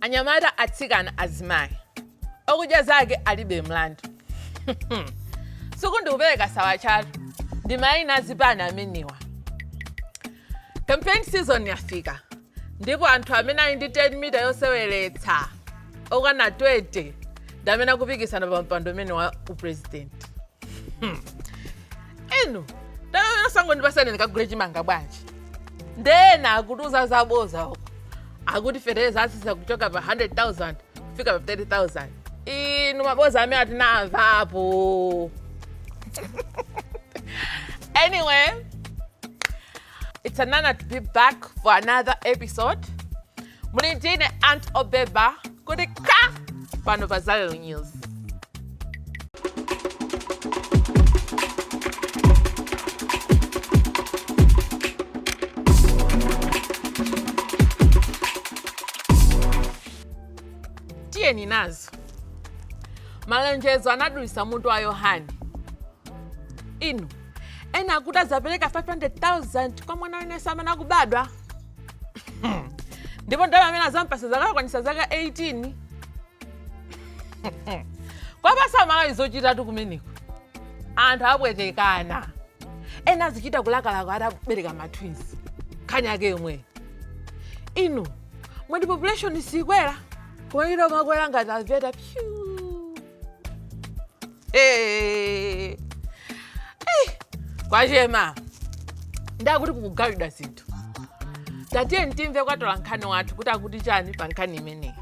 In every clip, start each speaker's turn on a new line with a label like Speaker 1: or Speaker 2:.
Speaker 1: anyamata atsikana azimayi okudya zake alibe mlandu sindikupereka sawatchatu ndi mayina azipani amenewa campaign season yafika ndipo anthu amene ali ndi 10 mita yoseweretsa okwana 20 ndi amene akupikisana pa mpando umene wa upresidenti inu tayosani ndipatseni ndikagule chimanga bwanji nde ena akutiuza zaboza uko akuti fetereza atsitsa kuchoka pa 100000 kufika pa 30000 inu maboza amene tinamvapo anyway it's an honour to be back for another episode Muli bwanji ndine aunt Obeba kutikita pano pa Zion News. Tiyeni nazo. Malonjezo anadulitsa mutu wa Yohani. Inu, ena akuti adzapereka 500,000 kwa mwana wina asanabadwe. ndipo ndalama amene adzampatsa akakwanitsa zaka 18 kwapatsa amalawi zochitatu kumeneko anthu apwetekana ena azichita kulakalaka atabereka matwins nkhani yake yomweyo inu mwati population siyikwera kumaita kumakwera ngati aveta pyu Eh. Eh, kwachema ndakuti kukugawidwa zinthu tatiyeni timve kwa mtola nkhani wathu kuti akuti chani pa nkhani imeneyi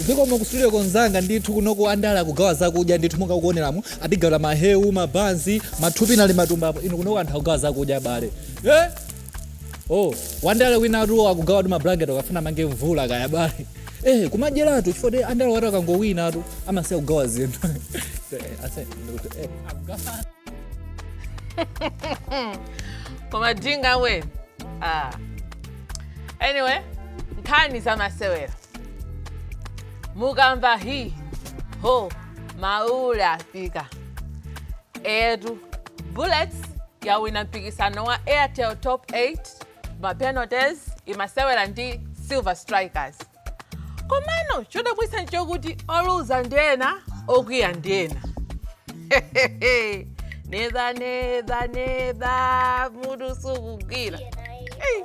Speaker 1: zikomo ku studio ko mnzanga ndithu kuno andale akugawa zakudya ndithu monga mukuoneramu atigawira mahewu mabanzi mathupi ali matumbapo inu kuno anthu akugawa zakudya abale eh? oh wandale winatu akugawatu mablanket akafuna mange mvula kaya abale eh kumadyeratu chifukwa ti andale watu akangowinatu amasiya kugawa zinthu Eh, ase- ndikuti, eh. koma jinga we ah. anyway nkhani zamasewera mukamva hi ho maule afika eyetu bullets yawina mpikisano wa airtel top 8 mapenalties imasewera ndi silver strikers komano chodabwitsa ndi chokuti oluza ndi ena okwiya ndi ena neza neza neza mutu sukugwira Hey.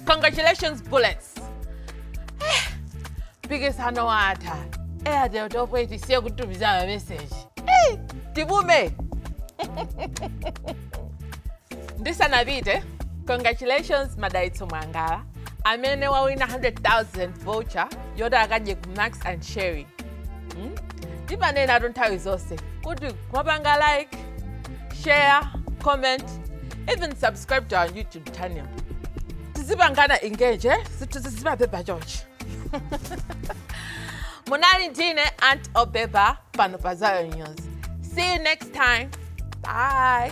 Speaker 1: congratulations bullets mpikisano watha airtel topo tisiye kutumiza mameseji Ei, tibume ndisanapite congratulations madaitso mwangala amene wawina 100000 voucher yoti akadye ku max and sherry Hmm? timanenatu nthawi zonse kuti mwapanga like share comment even subscribe to our youtube channel tizipangana engage eh? zinthu zizimapepa chonchi munali ndine aunt obeba pano pa zayo news see you next time bye